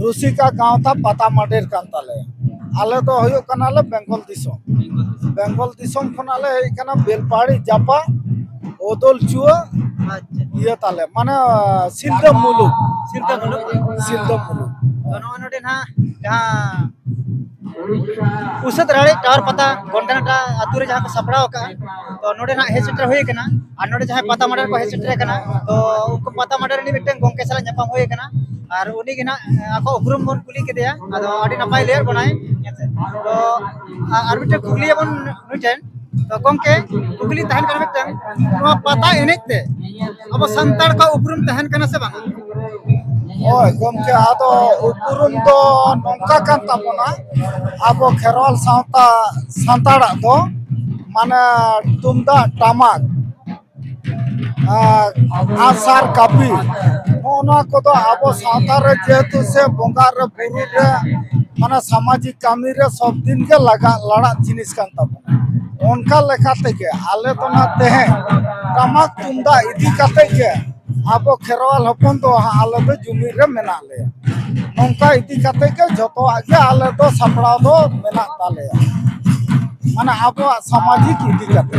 ᱨᱩᱥᱤᱠᱟ ᱜᱟᱶᱛᱟ ᱯᱟᱛᱟ ᱢᱟᱰᱮᱨ ᱠᱟᱱ ᱛᱟᱞᱮ ᱟᱞᱮ ᱫᱚ ᱦᱩᱭᱩᱜ ᱠᱟᱱᱟᱞᱮ ᱵᱮᱝᱜᱚᱞ ᱫᱤᱥᱚᱢ ᱵᱮᱝᱜᱚᱞ ᱫᱤᱥᱚᱢ ᱠᱷᱚᱱᱟᱜ ᱞᱮ ᱦᱮᱡ ᱠᱟᱱᱟ ᱵᱮᱞᱯᱟᱦᱟᱲᱤ ᱡᱟᱯᱟ ᱚᱫᱚᱞ ᱪᱩᱣᱟᱹ ᱟᱪᱪᱷᱟ ᱤᱭᱟᱹ ᱛᱟᱞᱮ ᱢᱟᱱᱮ ᱥᱤᱞᱫᱟᱹ ᱢᱩᱞᱩᱠ ᱥᱤᱞᱫᱟᱹ ᱢᱩᱞᱩᱠ ᱥᱤᱞᱫᱟᱹ ᱢᱩᱞᱩᱠ ᱛᱚ ᱱᱚᱜᱼᱚᱭ ᱱᱚᱰᱮ ᱱᱟᱦᱟᱜ ᱡᱟᱦᱟᱸ ᱩᱥᱟᱹᱫ ᱨᱟᱲᱮ ᱴᱟᱣᱟᱨ ᱯᱟᱛᱟ ᱜᱚᱱᱰᱟᱱᱟᱴᱟ ᱟᱛᱳ ᱨᱮ ᱡᱟᱦᱟᱸ ᱠᱚ ᱥᱟᱯᱲᱟᱣ ᱟᱠᱟᱫᱼᱟ ᱛᱚ ᱱᱚᱰᱮ ᱱᱟᱜ ᱦᱮᱡ ᱥᱮᱴᱮᱨ ᱦᱩᱭ ᱟᱠᱟᱱᱟ ᱟᱨ ᱱᱚᱰᱮ ᱡᱟᱦᱟᱸᱭ ᱯᱟᱛᱟ ᱢᱟᱰᱮᱨ ᱠᱚ ᱦᱮᱡ ᱥᱮᱴᱮᱨ ᱟᱠᱟᱱᱟ ᱛᱚ ᱩᱱᱠᱩ ᱯᱟᱛᱟ ᱢᱟᱰᱮᱨ ᱨᱤᱱᱤᱡ ᱢᱤᱫᱴᱮᱱ ᱜᱚᱢᱠᱮ ᱥᱟᱞᱟᱜ ᱧᱟᱯᱟᱢ ᱦᱩᱭ ᱟᱠᱟᱱᱟ ᱟᱨ ᱩᱱᱤ ᱜᱮ ᱱᱟᱜ ᱟᱠᱚ ᱩᱯᱨᱩᱢ ᱵᱚᱱ ᱠᱩᱞᱤ ᱠᱮᱫᱮᱭᱟ ᱟᱫᱚ ᱟᱹᱰᱤ ᱱᱟᱯᱟᱭ ᱞᱟᱹᱭᱟᱫ ᱵᱚᱱᱟᱭ ᱦᱮᱸᱥᱮ ᱛᱚ ᱟᱨ ᱢᱤᱫᱴᱮᱱ ᱠᱩᱠᱞᱤ ᱟᱵᱚᱱ ᱱᱩᱭ ᱴᱷᱮᱱ ᱛᱚ ᱜᱚᱢᱠᱮ ᱠᱩᱠᱞᱤ ᱛᱟᱦᱮᱱ ᱠᱟᱱᱟ ᱢᱤᱫᱴᱮᱱ ᱱᱚᱣᱟ ᱯᱟᱛᱟ ᱮᱱᱮᱡ ᱛᱮ ᱟᱵᱚ ᱥᱟᱱᱛᱟᱲ ᱠᱚ ᱩᱯᱨᱩᱢ ᱛᱟᱦᱮᱱ ᱠᱟᱱᱟ ᱥᱮ ᱵᱟᱝ ᱦᱳᱭ ᱜᱚᱢᱠᱮ ᱟᱫᱚ ᱩᱯᱨᱩᱢ ᱫᱚ ᱱᱚᱝᱠᱟ ᱠᱟᱱ ᱛᱟᱵᱚᱱᱟ ᱟᱵᱚ ᱠᱷᱮᱨᱣᱟᱞ ᱥᱟᱶᱛᱟ ᱥᱟᱱᱛᱟᱲᱟᱜ ᱫᱚ ᱢᱟᱱᱮ ᱛᱩᱢᱫᱟᱜ ᱴᱟᱢᱟᱠ ᱟᱸᱜᱼᱥᱟᱨ ᱠᱟᱹᱯᱤ ᱱᱚᱜᱼᱚ ᱱᱚᱣᱟ ᱠᱚᱫᱚ ᱟᱵᱚ ᱥᱟᱶᱛᱟ ᱨᱮ ᱡᱮᱦᱮᱛᱩ ᱥᱮ ᱵᱚᱸᱜᱟ ᱨᱮ ᱵᱩᱨᱩ ᱨᱮ ᱢᱟᱱᱮ ᱥᱟᱢᱟᱡᱤᱠ ᱠᱟᱹᱢᱤ ᱨᱮ ᱥᱚᱵ ᱫᱤᱱ ᱜᱮ ᱞᱟᱜᱟᱜ ᱞᱟᱲᱟᱜ ᱡᱤᱱᱤᱥ ᱠᱟᱱ ᱛᱟᱵᱚᱱᱟ ᱚᱱᱠᱟ ᱞᱮᱠᱟ ᱛᱮᱜᱮ ᱟᱞᱮ ᱫᱚ ᱱᱟᱜ ᱛᱮᱦᱮᱧ ᱴᱟᱢᱟᱠ ᱛᱩᱢᱫᱟᱜ ᱤᱫᱤ ᱠᱟᱛᱮ ᱜᱮ ᱟᱵᱚ ᱠᱷᱮᱨᱣᱟᱞ ᱦᱚᱯᱚᱱ ᱫᱚ ᱟᱞᱮ ᱫᱚ ᱡᱩᱢᱤᱫ ᱨᱮ ᱢᱮᱱᱟᱜ ᱞᱮᱭᱟ ᱱᱚᱝᱠᱟ ᱤᱫᱤ ᱠᱟᱛᱮ ᱜᱮ ᱡᱚᱛᱚᱣᱟᱜ ᱜᱮ ᱟᱞᱮ ᱫᱚ ᱥᱟᱯᱲᱟᱣ ᱫᱚ ᱢᱮᱱᱟᱜ ᱛᱟᱞᱮᱭᱟ ᱢᱟᱱᱮ ᱟᱵᱚᱣᱟᱜ ᱥᱟᱢᱟᱡᱤᱠ ᱤᱫᱤ ᱠᱟᱛᱮ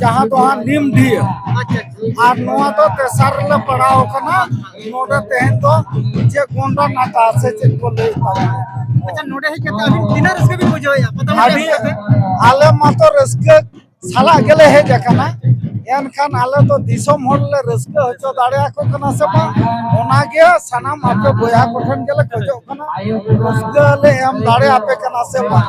ᱡᱟᱦᱟᱸ ᱫᱚ ᱦᱟᱸᱜ ᱱᱤᱢ ᱰᱷᱤᱭᱟᱹ ᱟᱨ ᱱᱚᱣᱟ ᱫᱚ ᱛᱮᱥᱟᱨ ᱨᱮᱞᱮ ᱯᱟᱲᱟᱣ ᱟᱠᱟᱱᱟ ᱱᱚᱰᱮ ᱛᱮᱦᱮᱧ ᱫᱚ ᱡᱮ ᱜᱚᱱᱰᱟ ᱱᱟᱠᱟ ᱥᱮ ᱪᱮᱫ ᱠᱚ ᱞᱟᱹᱭ ᱛᱟᱵᱚᱱᱟ ᱟᱪᱪᱷᱟ ᱱᱚᱰᱮ ᱦᱮᱡ ᱠᱟᱛᱮ ᱟᱹᱵᱤᱱ ᱛᱤᱱᱟᱹᱜ ᱨᱟᱹᱥᱠᱟᱹ ᱵᱤᱱ ᱵᱩᱡᱷᱟᱹᱣᱮᱫᱼᱟ ᱯᱟᱛᱟ ᱢᱟᱴᱟ ᱟᱹᱰᱤ ᱦᱮᱡ ᱠᱟᱛᱮ ᱟᱞᱮ ᱢᱟᱛᱚ ᱨᱟᱹᱥᱠᱟᱹ ᱥᱟᱞᱟᱜ ᱜᱮᱞᱮ ᱦᱮᱡ ᱟᱠᱟᱱᱟ ᱮᱱᱠᱷᱟᱱ ᱟᱞᱮ ᱫᱚ ᱫᱤᱥᱚᱢ ᱦᱚᱲ ᱞᱮ ᱨᱟᱹᱥᱠᱟᱹ ᱦᱚᱪᱚ ᱫᱟᱲᱮᱭᱟᱠᱚ ᱠᱟᱱᱟ ᱥᱮ ᱵᱟᱝ ᱚᱱᱟᱜᱮ ᱥᱟᱱᱟᱢ ᱟᱯᱮ ᱵᱚᱭᱦᱟ ᱠᱚᱴᱷᱮᱱ ᱜᱮᱞᱮ ᱠᱷᱚᱡᱚᱜ ᱠᱟᱱᱟ ᱨᱟᱹᱥᱠᱟᱹ ᱞᱮ ᱮᱢ ᱫᱟᱲᱮᱭᱟᱯᱮ ᱠᱟᱱᱟ ᱥᱮ ᱵᱟᱝ